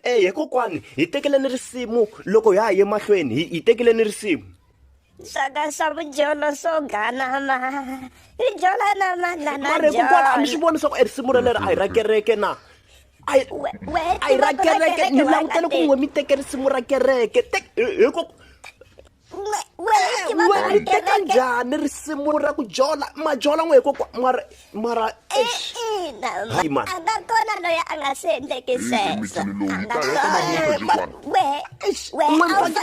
e he kokwani hi tekeleni risimu loko ha ha ye mahlweni hi tekeleni risimu swaka swa vujolo swo ganama i jola na mananamare kokwani a mi swi voni swa ku e risimu ra leri a hi ra kereke na a hi ra kereke ni langutele ku n'we mi teke risimu ra kereke hikoko wena ri teka njhani risimu ra ku jola majola n'we hikokwa mara mara e, hayi mani a nga kona loyi a nga swi endleki sweswo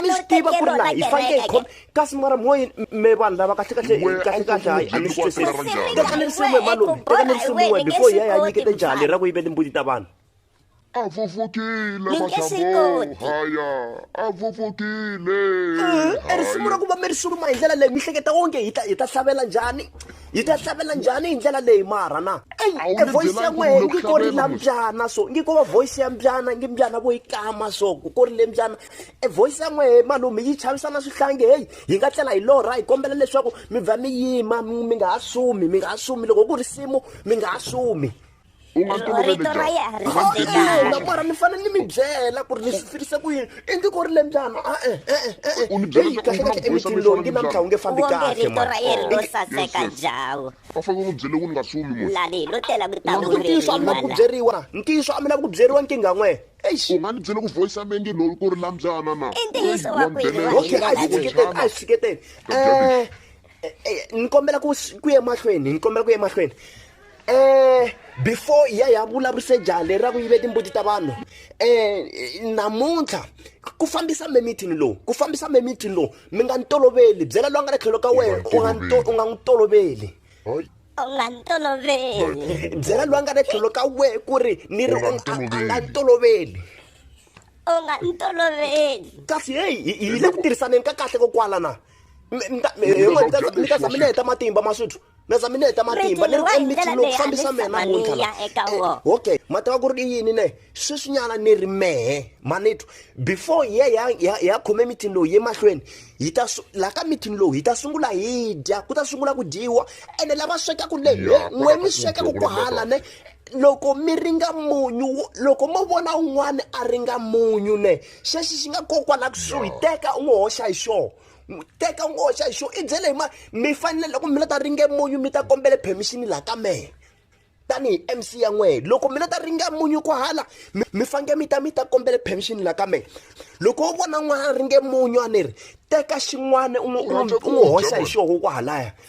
mi swi tiva ku ri laha hi fanele hi khoma kasi mara moyi me vanhu lava kahle kahle kahle kahle hayi a ni swi twisisi teka ni risimu hi malume teka ni risimu we before hi ya hi ya nyiketa njhani ra ku yivele mbuti ta vanhu A vuvukile mahlamboo haya a vuvukile e risimu ra ku va mi ri suruma hi ndlela leyi mi hleketa onge hi ta hi ta hlavelela njhani hi ta hlavelela njhani hi ndlela leyi mara na e voice ya n'wehe ngi ko ri la mbyana so ngi ko va voice ya mbyana ngi mbyana vo yi kama so ku ko ri le mbyana e voice ya n'wehe malume yi chavisa na swihlangi heyi hi nga tlela hi lorha hi kombela leswaku mi vha mi yima mi nga ha sumi mi nga ha sumi loko ku risimu mi nga ha sumi u nga toloveli mara ni fanele ni mi byela ku ri ni swi fikise ku yini i ndzi ko ri le njhani a-e e-e e-e u ni byela kahle kahle emitini lowu ngi namuntlha wu nge fambi kahle ma ra yena ro saseka jawu va fanele u n'wi byele ku ni nga sumi munhu lani lo tela ku ta ku ntiyiso a mi na ku byeriwa ntiyiso a mi na ku byeriwa nkingha n'we u nga ni byele ku voice ya mengi lowu ku ri la mbyana na i ntiyiso wa ku yini okay a yi tshiketeni a yi tshiketeni um ni kombela ku ku ye mahlweni ni kombela ku ye mahlweni um before ya ya vulavurise jaha leri ra ku yive timbuti ta vanhu um namuntlha ku fambisa me mithini lowu ku fambisa me mithini lowu mi nga ni toloveli byela loyi a nga le tlhelo ka wena u nga n'wi toloveli u nga ni toloveli byela loyi a nga le tlhelo ka wena ku ri ni ri a nga ni toloveli u nga ni toloveli kasi heyi hi le ku tirhisaneni ka kahle kokwala na mi ta za mi neheta matimba maswithu mi za mi neheta matimba ni ri emithini lowu fambisa mehe namuntlha okay ma tiva ku ri i yini ne sweswinyana ni ri mehe manitwa before hi ye hi ya khome mithini lowu ye mahlweni hi ta laha ka mithini lowu hi ta sungula hi dya ku ta sungula ku dyiwa ene lava swekaku le n'we mi swekaku ku hala ne loko mi ringa munyu loko mo vona un'wana a ringa munyu ne xexi xi nga kokwa la kusuhi teka u n'wi hoxa hi xona teka u n'wi hoxa hi xona i byele hi ma mi fanele loko mi la ta ringe munyu mi ta kombele permission laha ka mehe tanihi mc ya n'wehe loko mi la ta ringe munyu ku hala mi fange mi ta mi ta kombele permission laha ka mehe loko wo vona n'wana ringe munyu a ni ri teka xin'wana u n'wi hoxa hi xona kwahalaya